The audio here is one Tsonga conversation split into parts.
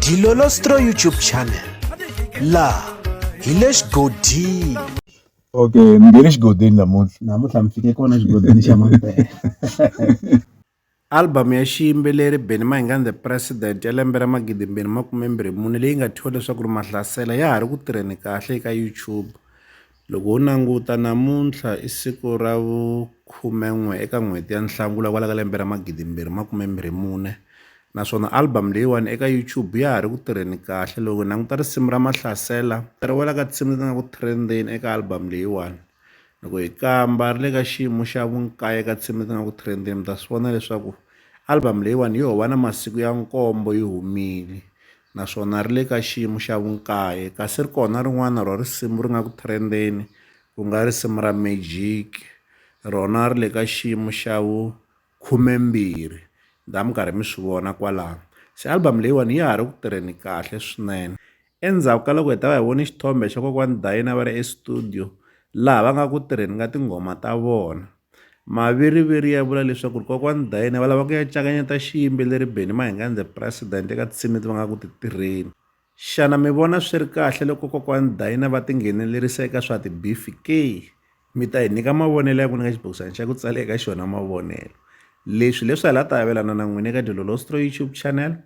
Dilolostro YouTube channel la hi le xigodini okay mi nge le xigodini namuntlha namuntlha mi fike kona xigodini xa mampela album ya xiyimbeleri benny mahinga the president ya lembe ra magidi mbirhi makume mbirhi mune leyi nga thyiwa leswaku ri mahlasela ya ha ri ku tirheni kahle eka youtube Loko ho languta namuntlha i siku ra vu khumen'we eka n'hweti ya Nhlangula kwala ka lembe ra magidi mbirhi makume mbirhi mune naswona album leyiwani eka YouTube ya ha ri ku tirheni kahle loko hi languta risimu ra Mahlasela ri wela ka tinsimu leti nga ku trend-eni eka album leyiwani loko hi kamba ri le ka xiyimo xa vunkaye ka tinsimu leti nga ku trend-eni mi ta swi vona leswaku album leyiwani yo va na masiku ya nkombo yi humile naswona ri le ka xiyimo xa vunkaye, kasi ri kona rin'wana rwa risimu ri nga ku threndeni ku nga risimu ra Magic, rona ri le ka xiyimo xa vu khumembirhi, mi ta va mi karhi mi swi vona kwalano. Se album leyiwani ya ha ri ku tirheni kahle swinene. Endzhaku ka loko hi ta va hi vone xithombe xa kokwani Dayina va ri estudio laha va nga ku tirheni ka tinghoma ta vona, Maviriviri ya vula leswaku ri kokwani Dayine va lava ku ya cakanyeta xiyimbeleri Benny Mahingandze President eka tinsimu leti va nga ku ti tirheni. Xana mi vona swi ri kahle loko kokwani Dayine va tinghenelerisa eka swa tibifi ke? Mi ta hi nyika mavonelo ya n'wina ka xibokisana xa ku tsala eka xona mavonelo. Leswi hileswi hala ta avelana na n'wina eka Dilolostro YouTube channel.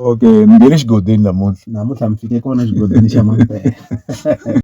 Okay ni nge le xigodini namuntlha namuntlha mi fike kona xigodini xa mampela.